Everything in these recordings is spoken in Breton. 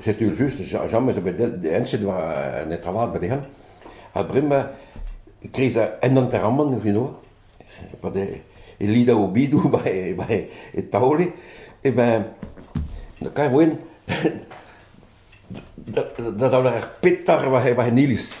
setu just james zo bet enset war an netra vat ba dezhan ha bremañ kreiz en hanteramant e finva pa de e lida o bidou ba e ba e taole e ben kaer oen da da daoler ar petar war e iliz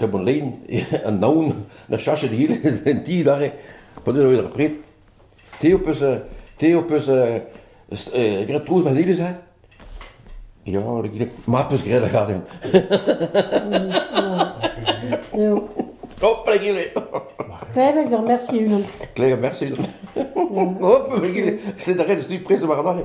Hep an len, an naon, na cheñchet ivez en ti adarre pa deus ar pred. Te ho peus te ho peus graet trouz madelez ha ? Ya, ma peus graet lâret. Eo. Hopla gile. Klevet ur mersi unan. Klevet mersi unan. Hop, gile, sed a ret ez tu prez war adarre.